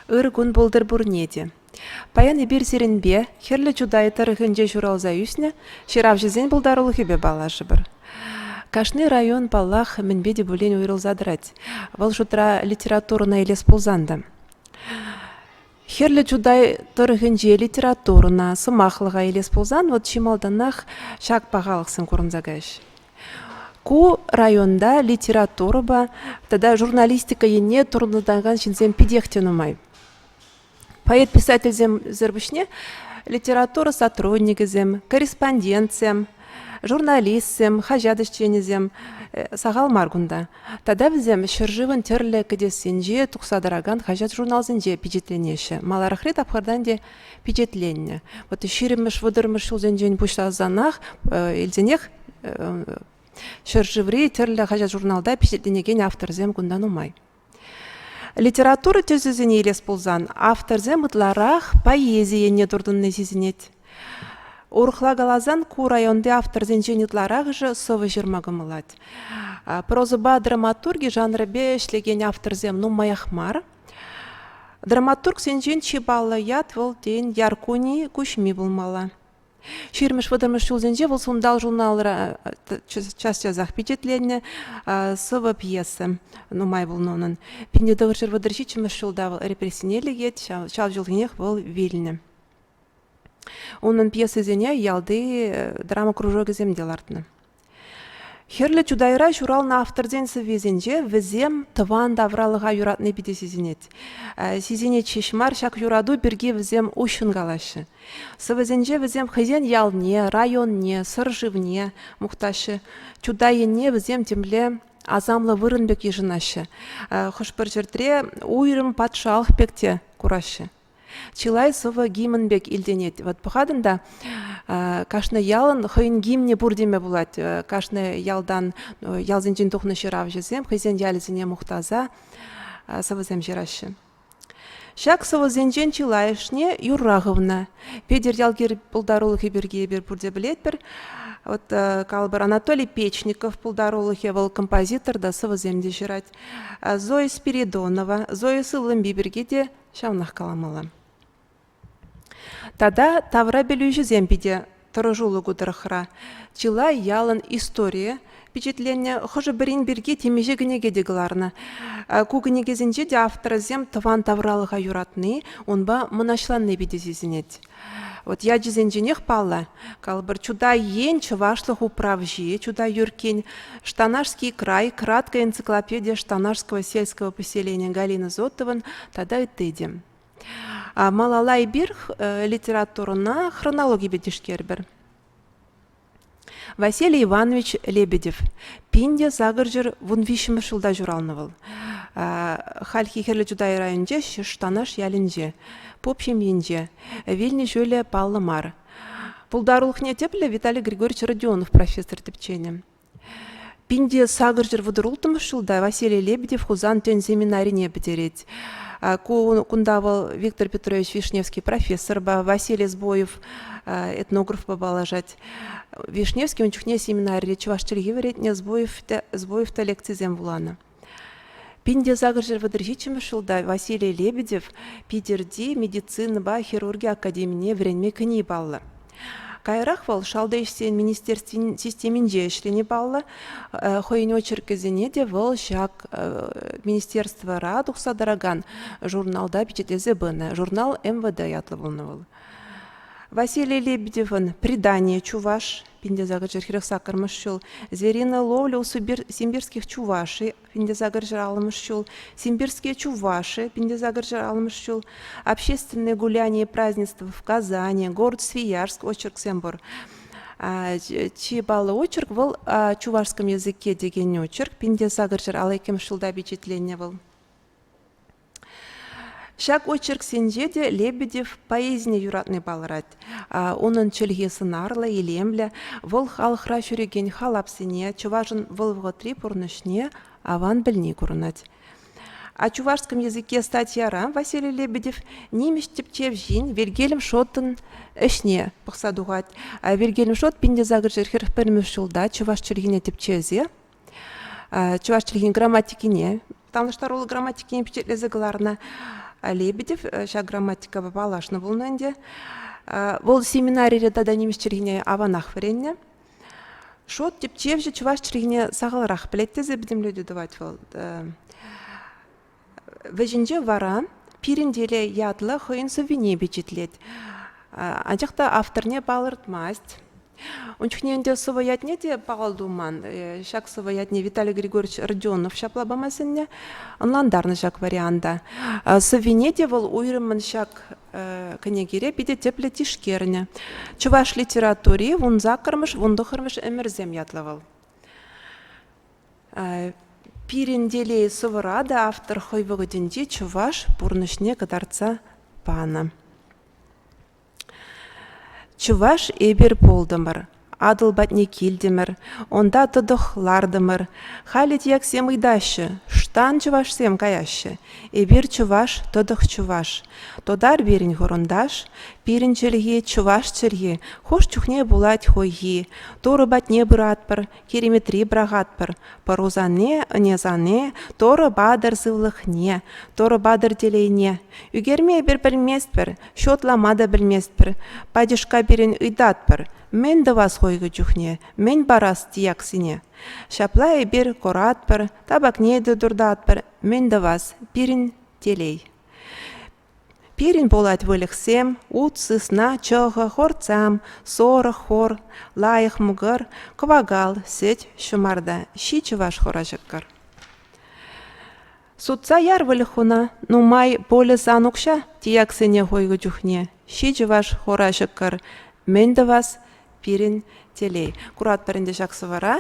Ыр кун пултӑр пурне те. Паян эпир сирӗнпе, Хӗрлӗ Чутай тӑрӑхӗнче ҫуралса ӳснӗ ҫыравҫӑсен пултарулӑхӗпе паллашӑпӑр. Кашни район, паллах, мӗнпе те пулин уйрӑлса тӑрать. Вӑл шутра литературӑна илес пулсан та. Хӗрлӗ Чутай тӑрӑхӗнче литературӑна, сӑмахлӑха илес пулсан, вот чи малтанах ҫак пахалӑхсем курӑнса каҫ. Ку районта литературӑпа тата журналистика енне туртӑнакан ҫынсем питех те нумай. Поэт-писательсемсӗр пуҫне литература сотрудникӗсем, корреспондентсем, журналистсем, хаҫат ӗҫченӗсем сахал мар кунта. Тата вӗсем ҫӗршывӑн тӗрлӗ кӗтессинче тухса тӑракан хаҫат-журналсенче пичетленеҫҫӗ. Маларахри тапхӑртан те пичетленнӗ. Вот ҫирӗммӗш, вӑтӑрмӗш ҫулсенчен пуҫласанах илсенех ҫӗршыври тӗрлӗ хаҫат-журналта пичетленекен авторсем кунта нумай. Литература тӗсӗсене илес пулсан авторсем ытларах поэзи енне туртӑнни сисӗнет. Урӑхла каласан, ку районти авторсенчен ытларахӑшӗ сӑвӑ ҫырма кӑмӑлать. Прозӑпа драматурги жанрӗпе ӗҫлекен авторсем нумаях мар. Драматургсенчен чи паллӑ ят вӑл, тен, Яркуни Куҫми пулмалла. Ҫирӗммӗш вӑтӑрмӗш ҫулсенче вӑл Сунтал журналра час-часах пичетленнӗ сӑвӑ пьеса нумай пулнӑ унӑн. Пинтетӑвӑр ҫӗр вӑтӑр ҫиччӗмӗш ҫулта вӑл репрессине лекет, ҫав ҫулхинех вӑл вилнӗ. Унӑн пьесисене ялти драма кружокӗсем те лартнӑ. Хӗрлӗ Чутайра ҫуралнӑ авторсен сӑввисенче вӗсем тӑван тавралӑха юратни питӗ сисӗнет. Сисӗнет ҫеҫ мар, ҫак юрату пирки вӗсем уҫҫӑн калаҫҫӗ. Сӑвӑсенче вӗсем хӑйсен ялне, районне, сӑр шывне мухтаҫҫӗ. Чутай енне вӗсем темле асамлӑ вырӑн пек йышӑнаҫҫӗ. Хӑш-пӗр ҫӗртре уйрӑм патшалӑх пек те кураҫҫӗ. чылай сӑвӑ гимн пек илтӗнет. Вот пӑхатӑн та, кашни ялӑн хӑйӗн гимнӗ пур теме пулать. Кашни ялтан, ялсенчен тухнӑ ҫыравҫӑсем хӑйсен ялӗсене мухтаса сӑвӑсем ҫыраҫҫӗ. Ҫак сӑвӑсенчен чылайӑшне юрра хывнӑ. Петӗр Ялкир пултарулӑхӗ пирки эпир пурте пӗлетпӗр. Вот э, калӑпӑр, Анатолий Печников пултарулӑхӗ вӑл композитор та сӑвӑсем те ҫырать. Зоя Спиридонова, Зоя Сыллымби пирки те ҫавнах каламалла. Тата тавра пӗлӳҫӗсем питӗ тӑрӑшулӑху тӑрӑхра. Чылай ялӑн историйӗ пичетленнӗ. Хӑшӗ-пӗрин пирки темиҫе кӗнеке те кӑларнӑ. Ку кӗнекесенче те авторсем тӑван тавралӑха юратни, унпа мӑнаҫланни питӗ сисӗнет. Вот ячӗсенченех паллӑ, калӑпӑр Чутай ен чӑвашлӑх управҫи, Чутай Юркин, Штанашский край, краткая энциклопедия Штанашского сельского поселения Галина Зотован тата ытти те. Малалай бирх литературӑна хронологипе тишкерпӗр. Василий Иванович Лебедев пин те сакӑрҫӗр вун виҫҫӗмӗш ҫулта ҫуралнӑ вӑл. Хальхи Хӗрлӗ Чутай районӗнче Штанаш ялӗнче, поп ҫемйинче. Вилнӗ ҫулӗ паллӑ мар. Пултарулӑхне тӗплӗ Виталий Григорьевич Родионов профессор тӗпченӗ. Пин те сакӑрҫӗр вӑтӑрулттӑмӗш ҫулта Василий Лебедев Хусан тӗн семинарине пӗтерет. Кунта вӑл Виктор Петрович Вишневский профессорпа, Василий Сбоев этнографпа паллашать. Вишневский ун чухне семинарире чӑваш чӗлхи вӗрентнӗ, Сбоев та лекцисем вуланӑ. Пин те сакӑр ҫӗр вӑтӑр ҫиччӗмӗш ҫулта Василий Лебедев Питӗрти медицинӑпа хирурги академине вӗренме кӗни паллӑ. Каярах вӑл шалти ӗҫсен министерствин системинче ӗҫлени паллӑ. Э, хӑйӗн очеркӗсене те вӑл ҫак э, министерствӑра тухса тӑракан журналта пичетлесе пынӑ. Журнал МВД ятлӑ пулнӑ вӑл. Василий Лебедевӑн «Предание чуваш» Пиндесакӑр чӗлхерех сакӑрмӗш ҫул. Звериная ловля у симбирских чуваши, Пиндесакӑр чӗр аллӑмӗш ҫул. Симбирские чуваши, Пиндесакӑр чӗр аллӑмӗш ҫул. Общественные гуляния и празднества в Казани, город Свияжск, очерксем пур. Чи паллӑ очерк вӑл чувашском языке текен очерк. Пинте сакӑр ҫӗр ал иккӗмӗш ҫулта пичетленнӗ вӑл. Ҫак очерксенче те Лебедев поэзине юратни палӑрать. Унӑн чӗлхи сӑнарлӑ, илемлӗ. Вӑл халӑхра ҫӳрекен халапсене, чӑвашӑн вӑл вӑхӑтри пурнӑҫне аван пӗлни курӑнать. А чувашском языке статьяра Василий Лебедев нимӗҫ тӗпчевҫин Вильгельм Шоттӑн ӗҫне пӑхса тухать. Вильгельм Шотт 1940 ҫулта чӑваш чӗлхине тӗпчесе чӑваш чӗлхин грамматикине танлаштаруллӑ грамматикине пичетлесе кӑларнӑ лебедев ҫак грамматикапа паллашнӑ пулнӑ ӗнтӗ вӑл семинарире тата нимӗҫ чӗлхине аванах вӗреннӗ шот тӗпчевҫӗ чӑваш чӗлхине сахалрах пӗлет тесе пӗтӗмлетӳ тӑвать вӑл Вӗҫӗнче вара Пирӗн телей ятлӑ хӑйӗн сӑввине пичетлет. Анчах та авторне палӑртмасть. Ун чухне ӗнтӗ сӑвӑ ятне те пахал туман. Э, ҫак сӑвӑ ятне Виталий Григорьевич Родионов ҫапла пама сӗннӗ. Ӑнлантарнӑ ҫак варианта. Сӑввине те вӑл уйрӑммӑн ҫак э, кӗнекере питӗ тӗплӗ тишкернӗ. Чӑваш литератури вун саккӑрмӗш, вун тӑххӑрмӗш ӗмӗрсем ятлӑ вӑл. Пирӗн телей сӑвӑра та автор хӑй вӑхӑтӗнче чӑваш пурнӑҫне кӑтартса панӑ. Чӑваш эпир пултӑмӑр, Атӑл патне килтӗмӗр, унта тӑтӑх лартӑмӑр. Халӗ тияксем ыйтаҫҫӗ, штан чӑвашсем каяҫҫӗ. Эпир чӑваш, тӑтӑх чӑваш. Тотар пирӗн хурӑнташ, пирӗн чӗлхи чӑваш чӗлхи. Хӑш чухне пулать хӑйхи. Турӑ патне пыратпӑр, Кириметри пӑрахатпӑр. Пӑрусане, ӑнесане, Торӑ-Батыр сывлӑхне, Торӑ-Батыр телейне. Ӳкерме эпир пӗлместпӗр, ҫутлама та пӗлместпӗр. Патьӑшка пирӗн ыйтатпӑр: мӗн тӑвас хойкӑ чухне, мӗн парас тияксене? Ҫапла эпир куратпӑр, табакне те туртатпӑр. Мӗн тӑвас, пирӗн телей. Пирӗн пулать выльӑхсем ут, сысна, чӑхӑ, хортсам, сорӑк, хор, лайӑх мӑкӑр, кӑвакал, сӗт, ҫӑмарта, ҫи чӑваш хура-ҫӑкӑр. Сутса яр выльӑх хуна, нумай полӗ сан укҫа тияксене хойнӑ чухне. Ҫи чӑваш хура-ҫӑкӑр мӗн тӑвас пирӗн телей. Куратпӑр ӗнтӗ ҫак сӑвӑра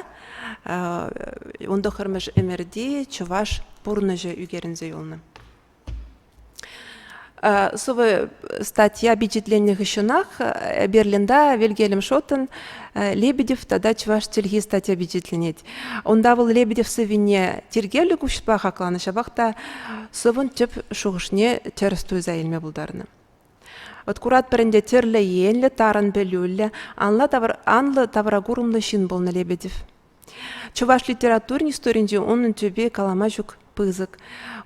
ун тӑххӑрмӗш ӗмӗрти чӑваш пурнӑҫӗ ӳкерӗнсе юлнӑ. Сывӑ статья пичетленнӗ хыҫҫӑнах Берлинта Вильгельм Шоттен Лебедев тата чӑваш чӗлхи статья пичетленет. Унта вӑл Лебедев сӑввине тиркевлӗ куҫпа хакланӑ, ҫапах та сӑвӑн тӗп шухӑшне тӗрӗс туйса илме пултарнӑ. Вот куратпӑр ӗнтӗ тӗрлӗ енлӗ, тарӑн пӗлӳллӗ, анлӑ тавра курӑмлӑ ҫын пулнӑ Лебедев. Чӑваш литературин историйӗнче унӑн тӳпи калама ҫук пысӑк.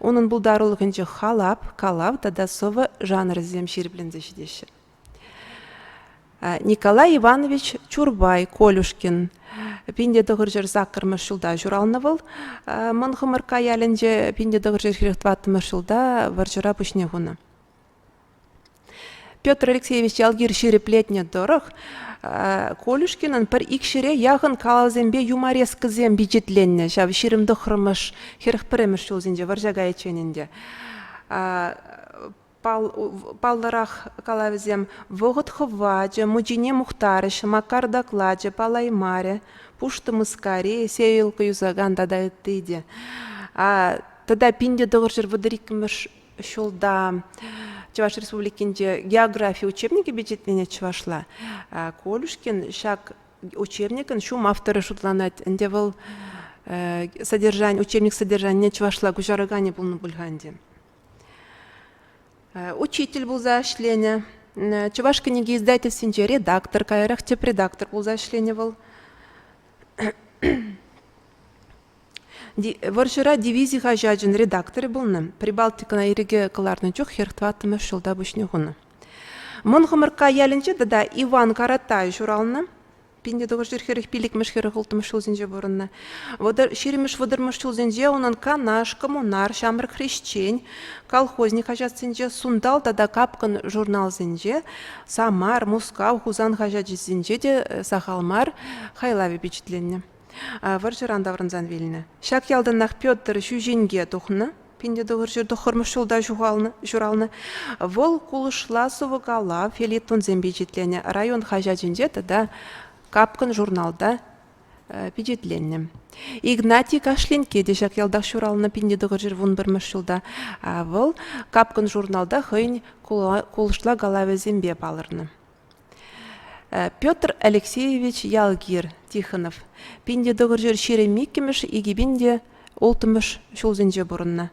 Унӑн пултарулӑхӗнче халап, калав тата сӑвӑ жанрӗсем ҫирӗпленсе ҫитеҫҫӗ. Николай Иванович Чурбай Колюшкин пинде тӑхӑрҫӑр саккӑрмӗш ҫулта ҫуралнӑ вӑл. Мӑн Хӑмӑркка ялӗнче пинде тӑхӑрҫӑр хирех тӑваттӑмӗш ҫулта вӑрҫӑра пуҫне хунӑ. Петр Алексеевич ялгир ҫирӗплетнӗ тӑрӑх, Колюшкинӑн пӗр ик ҫӗре яхӑн калӑсемпе юморескӑсем пичетленнӗ ҫав ҫирӗм тӑххӑрмӗш, хӗрӗх пӗрремӗш ҫулсенче вӑрҫа кайиччен ӗнтӗ. Паллӑрах калавӗсем «Вӑхӑт хӑвачӗ», «Мучине мухтарӗҫ», «Макар доклачӗ», «Палаймарӗ», «Пуштӑ мыскари», «Сеялка юсакан» тата ытти те. Тата пин те тӑхӑрҫӗр вӑтӑр иккӗмӗш ҫулта Чӑваш Республикинче географи учебникӗ пичетленет чӑвашла. Колюшкин ҫак учебникӑн ҫум авторӗ шутланать. Ӗнтӗ вӑл содержание, учебник содержанине чӑвашла куҫараканӗ пулнӑ пуль-ха ӗнтӗ. Учитель пулса ӗҫленӗ. Чӑваш кӗнеке издательствинче редактор, каярах тӗп редактор пулса ӗҫленӗ вӑл. Вӑрҫӑра дивизи хаҫачӗн редакторӗ пулнӑ, Прибалтикӑна ирӗке кӑларнӑ чух хӗр тӑваттӑмӗш ҫулта пуҫне хунӑ. Мӑн Хӑмӑркка ялӗнче тата Иван Каратай ҫуралнӑ. 1941 пиллӗкмӗш хӗрӗх улттӑмӗш ҫулсенче пурӑннӑ. Вӑтӑр, ҫирӗммӗш вӑтӑрмӗш ҫулсенче унӑн Канаш, Коммунар, Ҫамрӑк хресчен, Колхозник хаҫатсенче, Сунтал тата Капкӑн журналсенче, Самар, Мускав, Хусан хаҫачӗсенче те сахал мар хайлав пичетленнӗ. вӑрҫӑран таврӑнсан вилнӗ. Ҫак ялтанах Петр ҫӳҫенке тухнӑ. Пинте тӑхӑр ҫур тӑххӑрмӗш ҫулта ҫуралнӑ. Вӑл кулӑшла сӑвӑкала фельетонсем пичетленӗ район хаҫачӗнче тата Капкӑн журналта пичетленнӗ. Игнатий Кашленке те ҫак ялтах ҫуралнӑ пинте тӑхӑр ҫур вун пӗрмӗш ҫулта. Вӑл Капкӑн журналта хӑйӗн кулӑшла калавӗсемпе палӑрнӑ. Петр Алексеевич Ялгир, Тихонов, пин те тӑхӑр ҫӗр ҫирӗм иккӗмӗш, икӗ пин те улттӑмӗш ҫулсенче пурӑннӑ.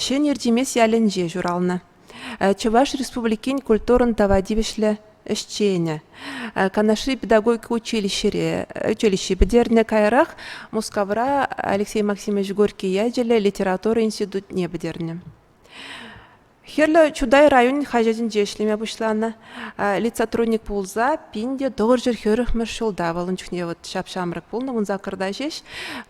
Ҫӗнӗ Иртимес ялӗнче ҫуралнӑ. Чӑваш Республикин культурӑн тава тивӗҫлӗ ӗҫченӗ. Канашри педагогика училищӗре училище пӗтернӗ. Каярах Мускавра Алексей Максимович Горький ячӗллӗ литература институтне пӗтернӗ. Хӗрлӗ Чутай районӗн хаҫатӗнче ӗҫлеме пуҫланӑ. Лицсотрудник пулса пин те тӑхӑр ҫӗр хӗрӗхмӗш ҫулта вӑл ун чухне вот ҫап-ҫамрӑк пулнӑ ун саккӑрта ҫеҫ.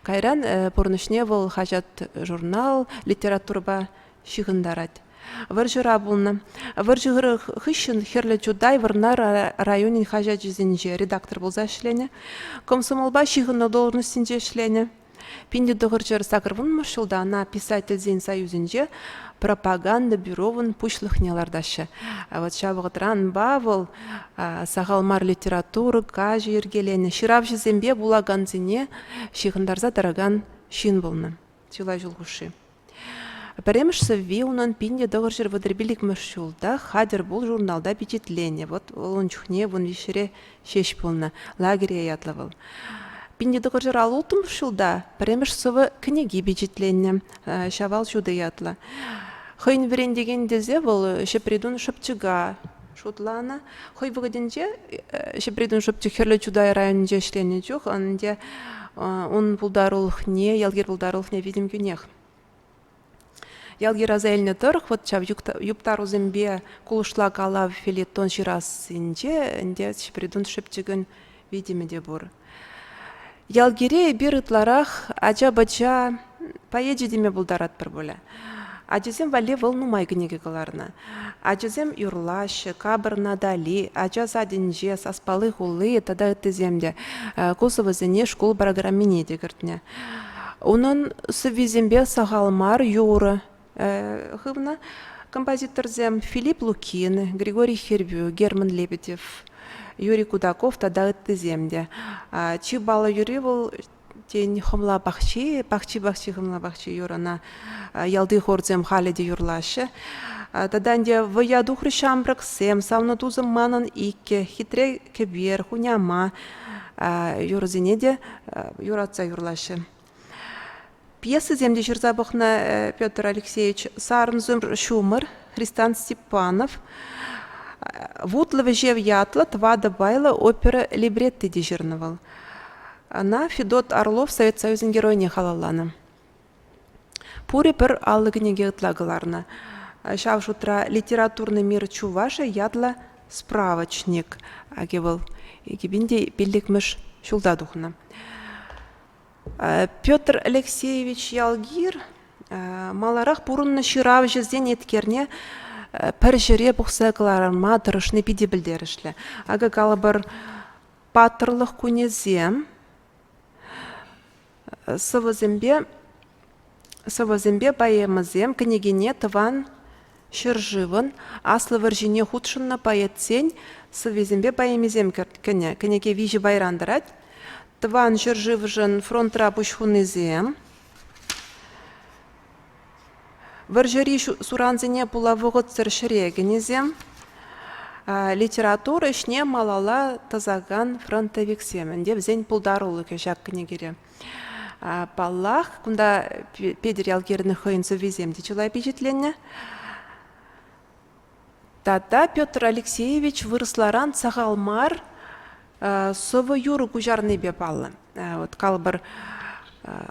Кайран пурнӑҫне вӑл хаҫат, журнал, литературӑпа ҫыхӑнтарать. Вӑрҫӑра пулнӑ. Вӑрҫӑ хыҫҫӑн Хӗрлӗ Чутай Вӑрнар районӗн хаҫачӗсенче редактор пулса ӗҫленӗ. Комсомолпа ҫыхӑннӑ должноҫсенче ӗҫленӗ. Пин те тӑхӑрҫӗр сакӑрвунмӑш ҫулта ӑна писательсен союзӗнче пропаганда бюровӑн пуҫлӑхне лартаҫҫӗ. Вот ҫав вӑхӑтранпа вӑл сахал мар литература, каҫӑ йӗркеленӗ, ҫыравҫӑсемпе вулакансене ҫыхӑнтарса тӑракан ҫын пулнӑ чылай ҫул хушши. Пӗрремӗш сӑвви унӑн пин те тӑхӑр ҫӗр вӑтӑрпил икмӗш ҫулта «Хатӗр пул» журналта пичетленнӗ. Вӑт вӑл ун чухне вун виҫҫӗре ҫеҫ пулнӑ «Лагерье» ятлӑ вӑл. пин те тӑхӑр ҫӗр ал улттӑмӗш ҫулта пӗрремӗш сӑвӑ кӗнеки пичетленнӗ «Ҫавал ҫутӑ» ятлӑ. хӑйӗн вӗрентекен тесе вӑл Ҫӗпритун шӑпчӑка шутланӑ. Хӑй вӑхӑтӗнче Ҫӗпритӑн шӑпчӑк Хӗрлӗ Чутай районӗнче ӗҫленӗ чух ӗнтӗ ун пултарулӑхне, ялгир пултарулӑхне витӗм кӳнех. Ялгир аса илнӗ тӑрӑх вот ҫав юптарусемпе кулӑшла калав филетон ҫырассинче ӗнтӗ Ҫӗпритун шӑпчӑкӗн витӗмӗ те пур. Ялгире эпир ытларах ача-пӑча поэчӗ теме пултаратпӑр пулӗ. Ачасем валли вӑл нумай кӗнеке кӑларнӑ. Ачасем юрлаҫҫӗ, капӑрна Дали, ача садӗнче, Саспали хулли тата ыттисем те ку сӑвӑсене шкул программине те кӗртнӗ. Унӑн сӑввисемпе сахал мар юрӑ, хывнӑ композиторсем Филипп Лукин, Григорий Хербю, Герман Лебедев, Юрий Кудаков тата ыттисем те. Чи баллӑ юри вӑл тен хӑмла пахчи, пахчи пахчи хӑмла пахчи юрӑна ялти хорсем халӗ те юрлаҫҫӗ. Тата ӗнтӗ вӑя тухрӗ ҫамрӑксем, савнӑ тусӑм манӑн иккӗ, хитре кӗпер, хуняма юрӑсене те юратса юрлаҫҫӗ. Пьесӑсем те ҫырса пӑхнӑ Петр Алексеевич. Сарӑмсӑр ҫумӑр, Христан Степанов, Вутлӑ вӗҫев ятлӑ тӑватӑ пайлӑ опера либретти те ҫырнӑ вӑл. Ӑна Федот Орлов Совет Союзӗн Геройне халалланӑ. Пурӗ пӗр аллӑ кӗнеке ытла кӑларнӑ. Ҫав шутра «Литературный мир чуваши» ятлӑ справочник аки вӑл. Экипин те пиллӗкмӗш ҫулта тухнӑ. Петр Алексеевич Ялгир маларах пурӑннӑ ҫыравҫӑсен еткерне пӗр ҫӗре пухса кӑларма тӑрӑшни питӗ пӗлтерӗшлӗ. Акӑ калӑпӑр, паттӑрлӑх кунӗсем сӑвӑсемпе Сӑвӑсемпе поэмӑсем кӗнекене Тӑван ҫӗршывӑн Аслӑ вӑрҫине хутшӑннӑ поэтсен сӑввисемпе поэмисем кӗнӗ. Кӗнеке виҫӗ пайран тӑрать. Тӑван ҫӗршывшӑн фронтра пуҫ хунисем, вӑрҫӑри сурансене пула вӑхӑтсӑр ҫӗре кӗнисем, литература ӗҫне малалла тӑсакан фронтовиксем ӗнтӗ. Вӗсен пултарулӑхӗ ҫак кӗнекере. Паллах, кунта Петӗр Ялкирӑн хӑйӗн сӑввисем те чылай пичетленнӗ. Тата Петр Алексеевич вырӑсларан сахал мар сӑвӑ-юрӑ куҫарнипе паллӑ. Вот калӑпӑр,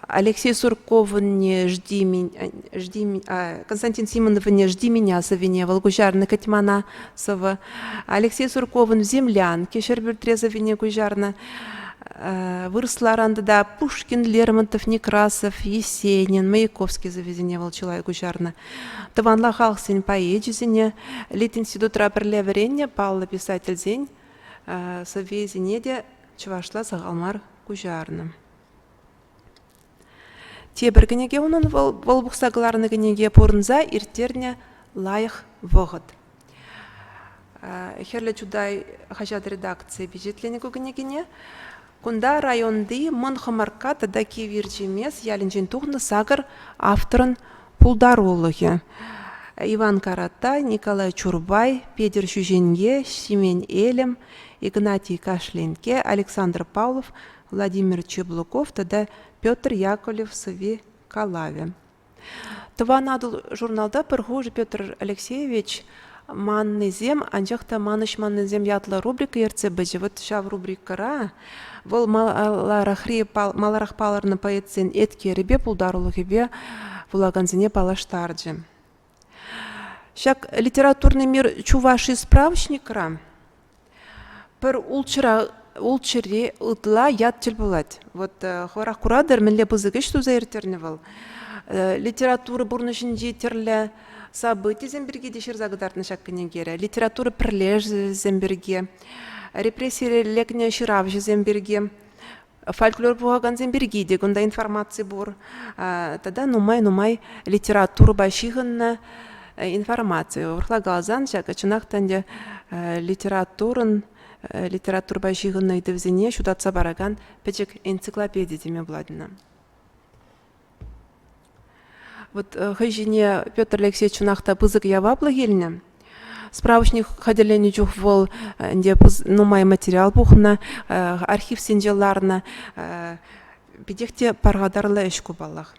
Алексей Сурковне «Жди меня», «Жди Константин Симоновне «Жди меня» сӑвине вӑл куҫарнӑ кӗтмана сӑвӑ. Алексей Сурковӑн «Землянки» Ҫӗрпӳртре сӑвине куҫарнӑ. Вырӑсларан тата Пушкин, Лермонтов, Некрасов, Есенин, Маяковский сӑввисене вӑл чылай куҫарнӑ. Тӑванла халӑхсен поэчӗсене, Литинститутра пӗрле вӗреннӗ паллӑ писательсен сӑввисене те чӑвашла сахал мар куҫарнӑ. Тепӗр кӗнеке унӑн вӑл, вӑл пухса кӑларнӑ кӗнеке пурӑнса ирттернӗ лайӑх вӑхӑт. Хӗрлӗ Чутай хаҫат редакцийӗ пичетленӗ ку кӗнекене. Кунта районти Мӑн Хӑмаркка тата Кив Ирчемес ялӗнчен тухнӑ сакӑр авторӑн пултарулӑхӗ. Иван Карата, Николай Чурбай, Петӗр Ҫӳҫенке, Ҫимен Элӗм, Игнатий Кашленке, Александр Павлов Владимир Чеблоков тата Петр Яковлев сӑвви калавӗ. Тӑван Атӑл журналта пӗр хушӑ Петр Алексеевич «Маннисем, анчах та манӑҫ-маннисем» ятлӑ рубрика ертсе пычӗ. Вот ҫав рубрикӑра вӑл маларахри, маларах палӑрнӑ поэтсен эткерӗпе, пултарулӑхӗпе вулакансене паллаштарчӗ. Ҫак литературный мир Чуваши справочникра пӗр ултҫӑра ултҫӑри ытла ят тӗл пулать. Вот хӑвӑрах куратӑр, мӗнле пысӑк ӗҫ туса ирттернӗ вӑл. Литература пурнӑҫӗнчи тӗрлӗ событисем пирки те ҫырса кӑтартнӑ ҫак кӗнекере, литература пӗрлешӗвӗсем пирки, репрессире лекнӗ ҫыравҫӑсем пирки. фольклор пухакансем пирки те кунта информаци пур тата нумай-нумай литературӑпа ҫыхӑннӑ информаци урӑхла каласан ҫакӑ чӑнах та ӗнтӗ литературӑн литературӑпа ҫыхӑннӑ ыйтӑвсене ҫутатса паракан пӗчӗк энциклопеди теме пулать ӑна. Вот э, хӑй ҫине Петр Алексеевич чӑнах та пысӑк яваплӑх илнӗ. Справочник хатӗрленӗ чух вӑл э, ӗнтӗ нумай материал пухнӑ, э, архивсенче ларнӑ. Питех те пархатарлӑ ӗҫ ку паллах.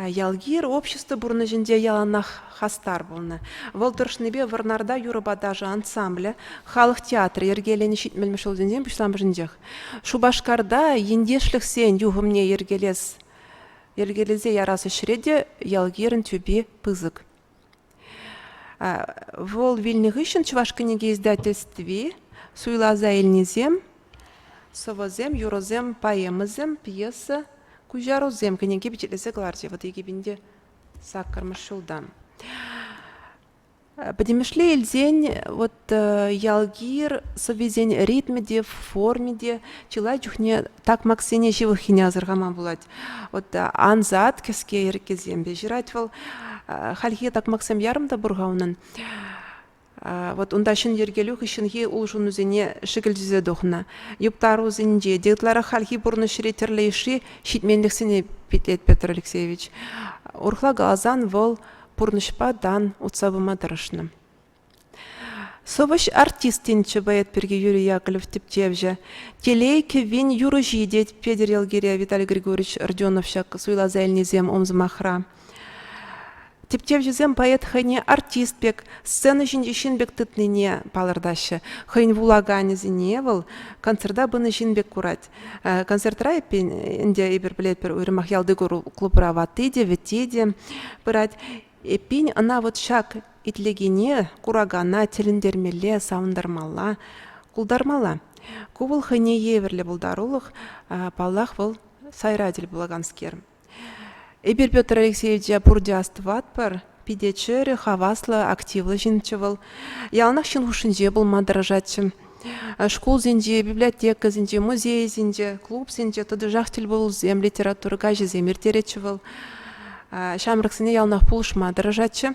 Ялгир общество пурнӑҫӗнче яланах хастар пулнӑ. Вӑл тӑрӑшнипе Вӑрнарта юрӑпа ташӑ ансамблӗ, халӑх театрӗ йӗркеленӗ ҫитмӗлмӗш ҫулсенчен пуҫламӑшӗнчех. Шупашкарта ентешлӗхсен юхӑмне йӗркелес йӗркелесе ярас ӗҫре те ял-кирӗн тӳпи пысӑк. Вӑл вилнӗ хыҫҫӑн Чӑваш кӗнеке издательстви суйласа илнисем сӑвӑсем, юрӑсем, поэмӑсем, пьеса, куҫарусем кӗнеке пичетлесе кӑларчӗ вот Екипенде саккӑрмӗш ҫултан. Пӗтӗмӗшле илсен вот ялгир сӑввисен ритмӗ те, форми те чылай чухне такмаксене ҫывӑххине асӑрхама пулать. Вот ансат кӗске йӗркесемпе ҫырать вӑл. Хальхи такмаксем ярӑм та пур-ха унӑн. Вот унта ҫын йӗркелӳ хыҫҫӑнхи улшӑнусене шӗкӗлчесе тухнӑ. Юпка арусенче те ытларах хальхи пурнӑҫри тӗрлӗ йышши ҫитменлӗхсене питлет Петр Алексеевич. Урӑхла каласан вӑл пурнӑҫпа тан утса пыма тӑрӑшнӑ. Сӑвӑҫ артистинччӗ поэт пирки Юрий Яковлев тӗпчевҫӗ. Телей кӗввин юрӑҫи тет Петӗр Елгире, Виталий Григорьевич Родионов ҫак суйласа илнисем ом сӑмахра. Тӗпчевҫӗсем поэт хӑйне артист пек, сцена ҫинчи ҫын пек тытнине палӑртаҫҫӗ. Хӑйӗн вулаканӗсене вӑл концерта пынӑ ҫын пек курать. Концертра эппин ӗнтӗ эпир пӗлетпӗр уйрӑмах ялти клубра ватти те, вӗтти те пырать. Эппин ӑна вот ҫак итлекене, куракана тӗлӗнтермелле, савӑнтармалла, култармалла. Ку вӑл хӑйне евӗрлӗ пултарулӑх, паллах, вӑл сайра тӗл пулаканскер. Эпир Петр Алексеевича пурте астӑватпӑр. Питӗ чӗрӗ, хаваслӑ, активлӑ ҫынччӗ вӑл. Яланах ҫын хушшинче пулма тӑрӑшатчӗ. Шкулсенче, библиотекӑсенче, музейсенче, клубсенче тӑтӑшах тӗлпулусем, литература каҫӗсем ирттеретчӗ вӑл. Ҫамрӑксене яланах пулӑшма тӑрӑшатчӗ.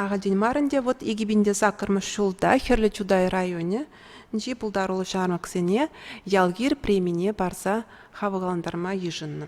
Ахальтен мар ӗнтӗ вӑт икӗ пин те саккӑрмӗш ҫулта Хӗрлӗ Чутай районӗнчи пултаруллӑ ҫамрӑксене Ялгир премине парса хавхалантарма йышӑннӑ.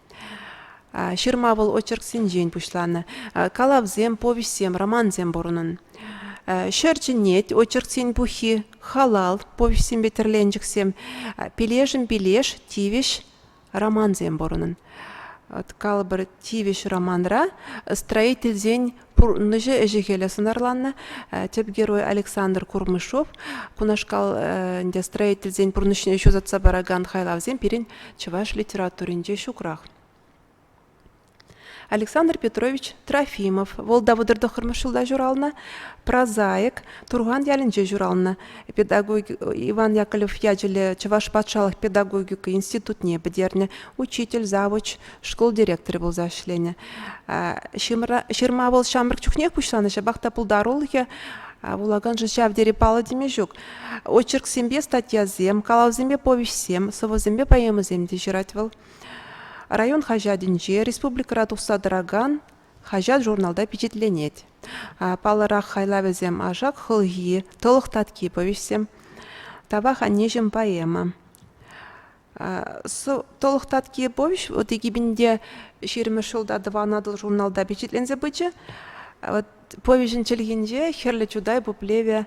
Ҫырма вӑл очерксенчен пуҫланӑ. Калавсем, повеҫсем, романсем пур унӑн. Ҫӗр чӗнет очерксен пуххи, халал повеҫсемпе тӗрленчӗксем, пилешӗм пилеш, тивӗҫ романсем пур унӑн. Калӑпӑр, тивӗҫ романра строительсен Пурӑннӑҫӗ ӗҫӗ-хӗлӗ сӑнарланнӑ. Тӗп герой Александр Курмышов. Кунашкал ӗнтӗ строительсен пурнӑҫне ҫутатса паракан хайлавсем пирӗн чӑваш литературинче ҫукрах. Александр Петрович Трофимов, вӑл Давыдӑр тӑххӑрмӗш ҫулта ҫуралнӑ, прозаик, Турхан ялӗнче ҫуралнӑ. Педагог Иван Яковлев ячӗллӗ Чӑваш патшалӑх педагогика институтне пӗтернӗ, учитель, завуч, шкул директорӗ пулса ӗҫленӗ. Ҫырма вӑл ҫамрӑк чухнех пуҫланӑ, ҫапах та пултарулӑхӗ вулаканшӑн ҫав тери паллӑ теме ҫук. Очерксемпе статьясем, калавсемпе повеҫсем, сӑвӑсемпе поэмӑсем те ҫырать вӑл. Район хаҫатӗнче, республикӑра тухса тӑракан хаҫат-журналта пичетленет. Паллӑрах хайлавӗсем «Ашак хӑлхи», «Тӑлӑх татки» повеҫсем, «Тавах аннеҫӗм» поэма. Тӑлӑх татки повеҫ вот экипинде ҫирӗммӗш ҫулта Тӑван Атӑл журналта пичетленсе пычӗ. Вот повеҫӗн чӗлхинче хӗрлӗ чутай пуплеве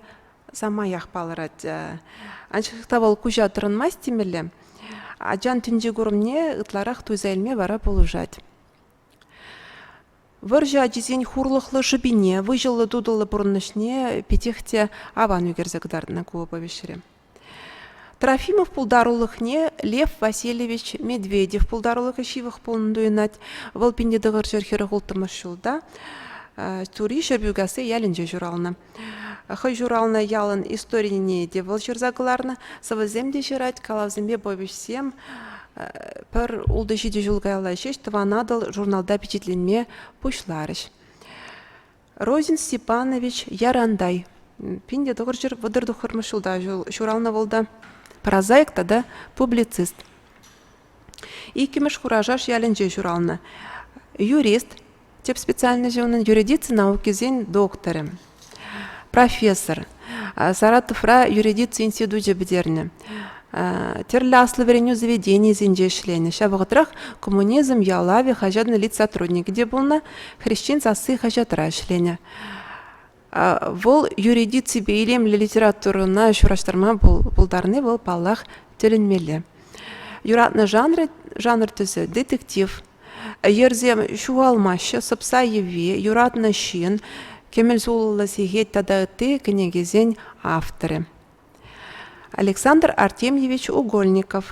самаях палӑрать. Анчах та вӑл куҫа тӑрӑнмасть темелле. Ачан тӗнче курӑмне ытларах туйса илме вара пулӑшать. Вӑрҫӑ ачисен хурлӑхлӑ шӑпине, выҫӑллӑ-тутӑллӑ пурӑнӑҫне питех те аван ӳкерсе кӑтартнӑ ку повеҫре. Трофимов пултарулӑхне Лев Васильевич Медведев пултарулӑхӗ ҫывӑх пулнӑ туйӑнать. Вӑл пин те тӑхӑр ҫӗр хӗрӗх улттӑмӗш ҫулта Тури Ҫӗрпӳкасси ялӗнче ҫуралнӑ. Хӑй ҫуралнӑ ялӑн историне те вӑл ҫырса кӑларнӑ, сӑвӑсем те ҫырать, калавсемпе повеҫсем. Пӗр ултӑ ҫичӗ ҫул каялла ҫеҫ Тӑван Атӑл журналта пичетленме пуҫларӗҫ. Розин Степанович Ярантай пин те тӑхӑрҫӑр вӑтӑр тӑхӑрмӗш ҫулта ҫуралнӑ вӑл та прозаик тата публицист. Иккӗмӗш Хурашаш ялӗнче ҫуралнӑ. Юрист, тӗп специальноҫӗ унӑн юридици наукисен докторӗ профессор саратовра юридици институчӗ пӗтернӗ тӗрлӗ аслӑ вӗренӳ заведенийӗсенче ӗҫленӗ ҫав вӑхӑтрах коммунизм ялавӗ хаҫатӑн лид сотрудникӗ те пулнӑ хресчен сасси хаҫатра ӗҫленӗ Вӑл юридиципе илемлӗ литературӑна ҫураҫтарма пултарни вӑл, паллах, тӗлӗнмелле. Юратнӑ жанр, жанр тӗсӗ детектив. Йӗрсем ҫухалмаҫҫӗ, сӑпса йӑви, юратнӑ ҫын, кӗмӗл сулӑллӑ сехет тата ытти кӗнекесен авторӗ. Александр Артемьевич Угольников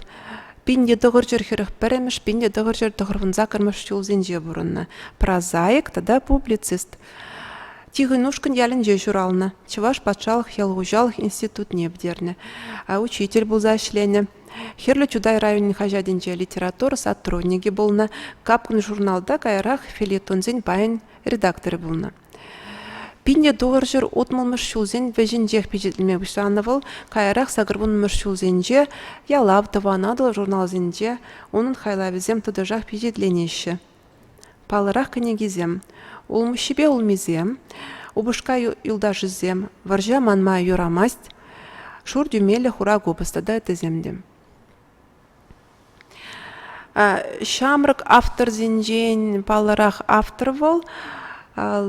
пин те тӑхӑрҫӗр хӗрӗх пӗрремӗш, пин те тӑхӑрҫӗр тӑхӑрвунса кӑрмӑш ҫулсенче пурӑннӑ, прозаик тата публицист. Тихӑнушкӑнь ялӗнче ҫуралнӑ, Чӑваш патшалӑх ял хуҫалӑх институтне пӗтернӗ, учитель пулса ӗҫленӗ. Хӗрлӗ Чутай районӗн хаҫатӗнче литература сотрудникӗ пулнӑ, капкӑн журналта каярах фельетонсен пайӗн редакторӗ пулнӑ. Пинне тулӑр ҫӗр утмӑлмӗш ҫулсен вӗҫӗнчех пичетленме пуҫланӑ вӑл. Каярах сакӑрвуннӑмӗш ҫулсенче «Ялав», «Тӑван Атӑл» журналсенче унӑн хайлавӗсем тӑтӑшах пичетленеҫҫӗ. Паллӑрах кӗнекисем «Улмуҫҫипе улмисем», «Упӑшка юлташӗсем», «Вӑрҫа манма юрамасть», «Шур тӳмеллӗ хура купӑс» тата ыттисем те. Ҫамрӑк авторсенчен паллӑрах автор вӑл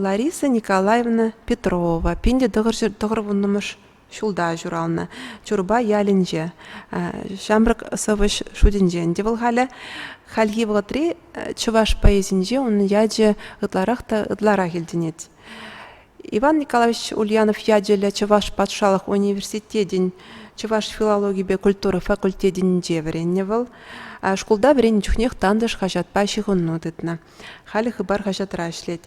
Лариса Николаевна Петрова. Пин те тӑхӑр вуннӑмӗш ҫулта ҫуралнӑ Чурпа ялӗнче. Ҫамрӑк сӑвӑҫ шутӗнчен те вӑл халӗ. Хальхи вӑхӑтри чӑваш поэзинче унӑн ячӗ ытларах та ытларах илтӗнет. Иван Николаевич Ульянов ячӗллӗ Чӑваш патшалӑх университетӗн чӑваш филологипе культура факультетӗнче вӗреннӗ вӑл. Шкулта вӗреннӗ чухнех тантӑш хаҫатпа ҫыхӑну тытнӑ. Халӗ Хыпар хаҫатра ӗҫлет.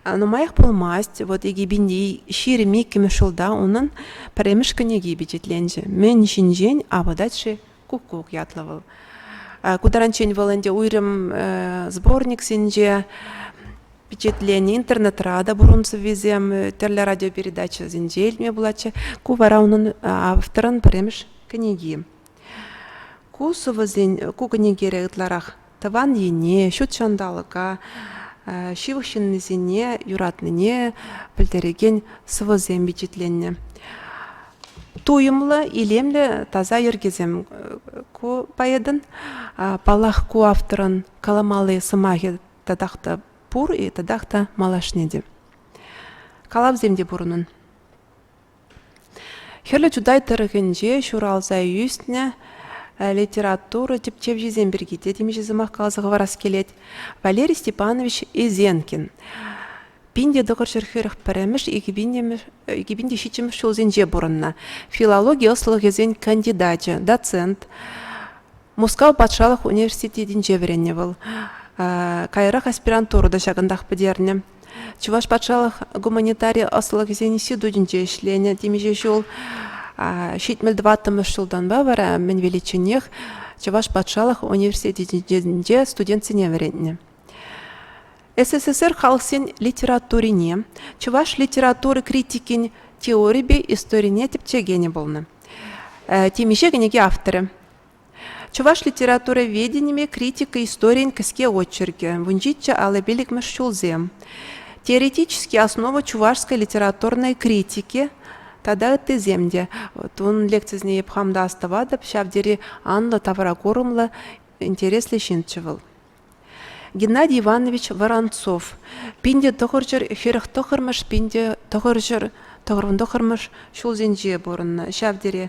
Нумаях пулмасть, вот Икӗпинти ҫирӗм иккӗмӗш ҫулта унӑн пӗрремӗш кӗнеки пичетленчӗ. Мӗн ҫинчен апатать-ши Куккук ятлӑ вӑл. Ку таранччен вӑл ӗнтӗ уйрӑм сборниксенче пичетленӗ интернетра та пурӑн сӑввисем тӗрлӗ радиопередачӑсенче илтме пулатчӗ. Ку вара унӑн авторӑн пӗрремӗш кӗнеки. Ку сӑвӑсен, ку кӗнекере ытларах тӑван ене, ҫут ҫанталӑка, ҫывӑх ҫыннисене юратнине пӗлтерекен сӑвӑсем пичетленнӗ. Туйӑмлӑ, илемлӗ таса йӗркесем ку поэтӑн. Паллах, ку авторӑн каламалли сӑмахӗ татах та пур и татах та малашне те. Калавсем те пур унӑн. Хӗрлӗ Чутай тӑрӑхӗнче ҫуралса ӳснӗ литература тӗпчевҫисем пирки те темиҫе сӑмах каласа хӑварас килет. Валерий Степанович Изенкин пин те тӑхӑр ҫӗр хӗрӗх пӗрремӗш, икӗ пин те ҫиччӗмӗш ҫулсенче пурӑннӑ. Филологи ӑслӑлӑхӗсен кандидачӗ, доцент, Мускав патшалӑх университетӗнче вӗреннӗ вӑл. Каярах аспирантура та ҫакӑнтах пӗтернӗ. Чӑваш патшалӑх гуманитари ӑслӑхӗсен институтӗнче ӗҫленӗ темиҫе ҫул. Ҫитмӗл тӑваттӑмӗш ҫултанпа вара мӗн величченех Чӑваш патшалӑх университетӗнче студентсене вӗрентнӗ. СССР халӑхсен литературине, чӑваш литератури критикин теорипе историне тӗпчекенӗ пулнӑ. Темиҫе кӗнеке авторӗ. Чӑваш литературоведенине критика историйӗн кӗске очеркӗ, вунҫиччӗ алӑ пиллӗкмӗш ҫулсем, теоретические основы чувашской литературной критики тата ыттисем те. Вот ун лекцисене эп хам та астӑватӑп, ҫав тери анлӑ тавракурӑмлӑ, интереслӗ ҫынччӗ вӑл. Геннадий Иванович Воронцов пинте тӑхӑрҫӑр хӗрӗх тӑхӑрмӗш пинте тӑхӑрҫӑр тӑхӑрвӑн тӑхӑрмӗш ҫулсенче пурӑннӑ. Ҫав тери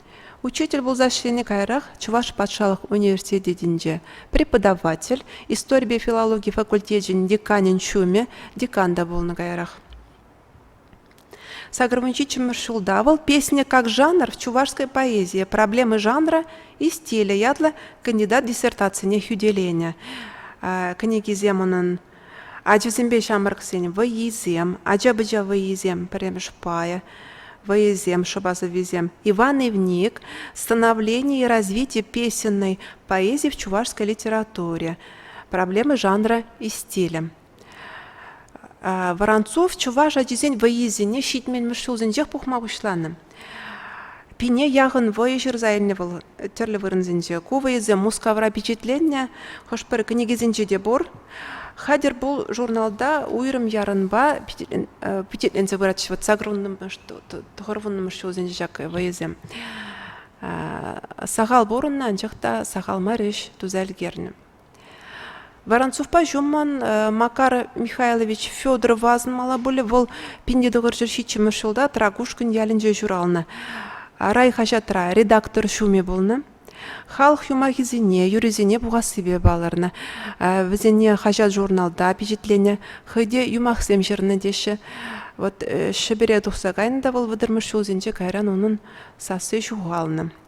Учитель пулса ӗҫленӗ каярах Чӑваш патшалӑх университетӗнче преподаватель, историпе филологи факультечӗн деканӗн ҫумӗ, декан та пулнӑ каярах. Сакӑр мунчиччӗмӗш ҫулта вӑл «Песня как жанр» чувашской поэзийӗ, проблемы жанра и стиля ятлӑ кандидат диссертацине хӳтӗленӗ. Кӗнекисем унӑн Ачасемпе ҫамрӑксен вӑййисем, ача-пӑча вӑййисем, пӗрремӗш пайӗ вӑйӑсем, шӑпа сӑввисем. Иван Ивник «Становление и развитие песенной поэзии в чувашской литературе. Проблемы жанра и стиля». Воронцов чӑваш ачисен вӑййисене ҫитменмӗш ҫулсенчех пухма пуҫланӑ. Пине яхӑн вӑйӑ ҫырса илнӗ вӑл тӗрлӗ вырӑнсенче. Ку вӑйӑсем Мускавра пичетленнӗ, хӑш-пӗр кӗнекесенче те пур. Хатӗр пул журналта уйрӑм ярӑнпа пичетленсе пыратчӗ. Вот сакӑрвуннӑмӗш, тӑхӑрвуннӑмӗш ҫулсенче ҫак вӑйӑсем. Сахал пурӑннӑ, анчах та сахал мар ӗҫ туса ӗлкернӗ. Воронцовпа ҫуммӑн Макар Михайлович Федоров асӑнмалла мала пулӗ. Вӑл пин те тӑхӑрҫӗр ҫиччӗмӗш ҫулта Тракушкин ялӗнче ҫуралнӑ. Райхаҫатра редактор ҫумӗ пулнӑ. Халӑх юмахӗсене, юррисене пухассипе палӑрнӑ. Вӗсене хаҫат-журналта пичетленӗ, хӑй те юмахсем ҫырнӑ теҫҫӗ. Вот Ҫӗпӗре тухса кайнӑ та вӑл вӑтӑрмӗш ҫулсенче кайран унӑн сасси ҫухалнӑ.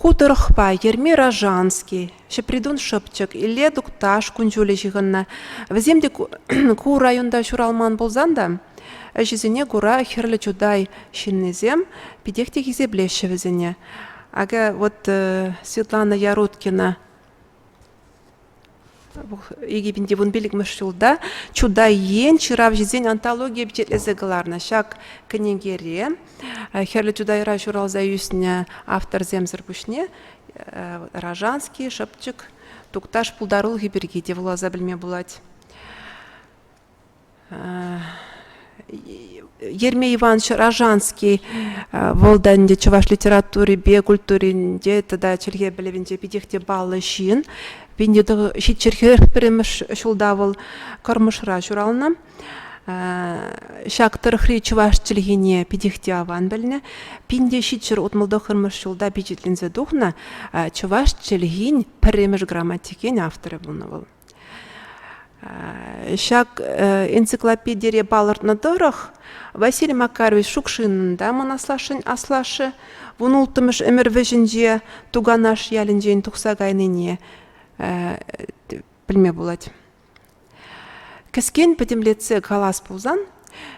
Ку тӑрӑхпа Ерми Рожанский, Ҫӗпритун Шӑпчӑк, Илле Тукташ кун-ҫулӗ ҫыхӑннӑ. Вӗсем те ку районта ҫуралман пулсан та, ӗҫӗсене кура Хӗрлӗ Чутай ҫыннисем питех те хисеплеҫҫӗ вӗсене. Акӑ вот Светлана Яруткина икӗ пин те вун пиллӗкмӗш ҫулта Чутай ен ҫыравҫисен антологийӗ пичетлесе кӑларнӑ. Ҫак кӗнекере Хӗрлӗ Чутайра ҫуралса ӳснӗ авторсемсӗр пуҫне Ражанский, Шӑпчӑк, Тукташ пултарулӑхӗ пирки те вуласа пӗлме пулать. Ерме Иванович Ражанский вӑл та ӗнтӗ чӑваш литературипе культуринче тата чӗлхе пӗлӗвӗнче питех те паллӑ ҫын. ҫиччӗр ҫиччӗхех пӗрремӗш ҫулта вӑл Кӑрмӑшра ҫуралнӑ. Ҫак тӑрӑхри чӑваш чӗлхине питех те аван пӗлнӗ. Пинте ҫиччӗр утмӑлтӑхӑрмӗш ҫулта пичетленсе тухнӑ чӑваш чӗлхин пӗрремӗш грамматикен авторӗ пулнӑ вӑл. Ҫак энциклопедире палӑртнӑ тӑрӑх Василий Макарович Шукшинӑн та мӑн аслашшӗн аслашшӗ вун улттӑмӗш ӗмӗр вӗҫӗнче Туганаш ялӗнчен тухса кайнине пӗлме пулать. Кӗскен пӗтӗмлетсе калас пулсан,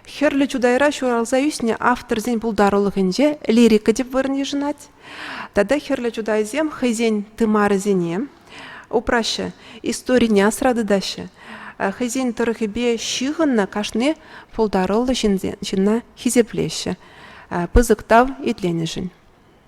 Хӗрлӗ Чутайра ҫуралса ӳснӗ авторсен пултарулӑхӗнче лирика тӗп вырӑн йышӑнать. Тата Хӗрлӗ Чутайсем хӑйсен тымарӗсене упраҫҫӗ, историне асра тытаҫҫӗ. Хӑйсен тӑрӑхӗпе ҫыхӑннӑ кашни пултаруллӑ ҫынна хисеплеҫҫӗ пысӑк тав итленӗшӗн.